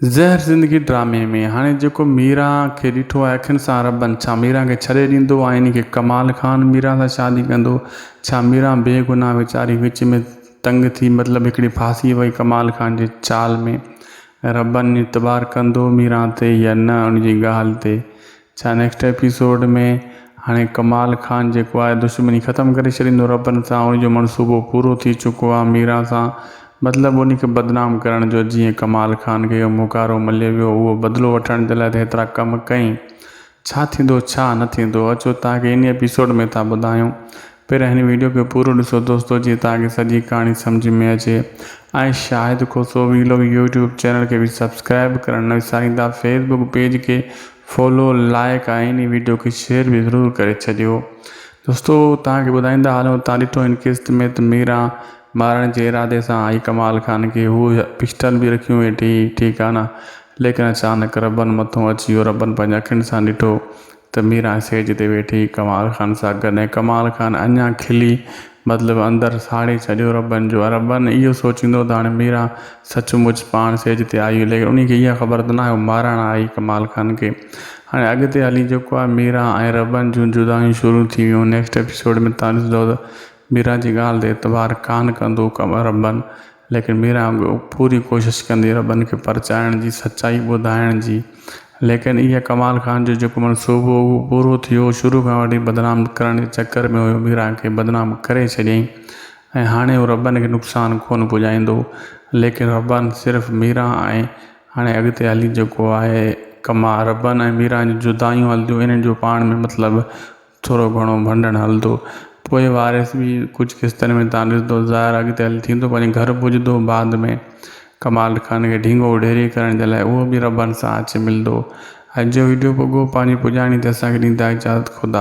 زهر زندگي ڊرامي ۾ هاڻي جيڪو ميرا کي ڏٺو آهي اکين سان ربن ڇا ميرا کي ڇڏي ڏيندو آئيني کي ڪمال خان ميرا سان شادي ڪندو ڇا ميرا بي گناهه ويچاري وچ ۾ تنگ ٿي مطلب هڪڙي ڦاسي وئي ڪمال خان جي چال ۾ ربن اعتبار ڪندو ميرا تي يا نه ان جي ڳالهه تي ڇا نيڪسٽ ايپيسوڊ ۾ هاڻي ڪمال خان جيڪو آهي دشمني ختم ڪري ڇڏيندو ربن سان ان جو منصوبو پورو ٿي چڪو آهي ميران سان مطلب ان کي بدنام ڪرڻ جو جيئن ڪمال خان کي اهو موڪارو ملي ويو اهو بدلو وٺڻ جي لاء ته هيترا ڪم ڪئين ڇا ٿيندو ڇا نه ٿيندو اچو توهان کي ان ايپيسوڊ ۾ ٿا ٻڌايون پهريان هن ويڊيو کي پورو ڏسو دوستو جيئن توهان کي سڄي ڪهاڻي سمجهه ۾ اچي ۽ Shahid Khoso vlog YouTube channel کي به سبسڪرائب ڪرڻ نه وساريندا فيس بڪ پيج کي فالو لائيڪ ۽ هن ويڊيو کي شيئر به ضرور ڪري ڇڏيو دوستو توهان کي ٻڌائيندا هلون توهان ڏٺو هن قسط ۾ ته ميران مارڻ جي ارادي سان آئي ڪمال خان کي هو پسٽل به رکيون ويٺي ٺيڪ آهي نه ليڪن اچانڪ ربن مٿون اچي ويو ربن پنهنجي اکين سان ڏٺو ته ميران اسٽيج تي ويٺي ڪمال خان سان گڏ ۽ ڪمال خان اڃا کلي مطلب اندر ساڙي ڇڏيو ربن جو ربن اهو سوچيندو ته هاڻي ميران سچ مچ پاڻ اسٽيج تي آئي هئي ليڪن انهي کي اها خبر ته ناهي هو مارڻ آئي ڪمال خان کي هاڻي اڳتي هلي جيڪو آهي ميران ۽ ربن جون جدايون شروع ٿي ويون نيڪسٽ ايپيسوڊ ۾ تان ڏسندو ته ميران جي ڳالهه تي اعتبار ڪانه ڪندو ربن ليڪن ميران به پوري ڪوشش ڪندي ربن کي پرچائڻ جي سچائي ٻڌائڻ جي ليڪن اها ڪمال خان جو جيڪو منصوبو هو اهو پورو ٿيو شروع کان وٺي بدنام ڪرڻ جي چڪر ۾ هيو ميران کي بدنام ڪري ڇڏيائين ۽ هاڻي هو ربن کي نقصان ڪونه پڄائيندو ليڪن ربن صرف ميران ۽ هاڻي اڳتي هلي جيڪو آهي ڪمال ربن ۽ ميران جي جدايون هلنديون انهن جو پاڻ ۾ مطلب ٿورو گهڻو ڀنڊڻ هلندو. پوء وارث به ڪجهه قسطن ۾ تان ڏسندو. ظاهر اڳتي هلي ٿيندو پنهنجي گهر پڄندو. بعد ۾ ڪمال خان کي ڍينگو اڍيري ڪرڻ جي لاء اهو به ربن سان اچي ملندو. اڄ جو وڊيو پڳو پنهنجي پڄاڻي تي اسان کي ڏيندائي اجازت خدا.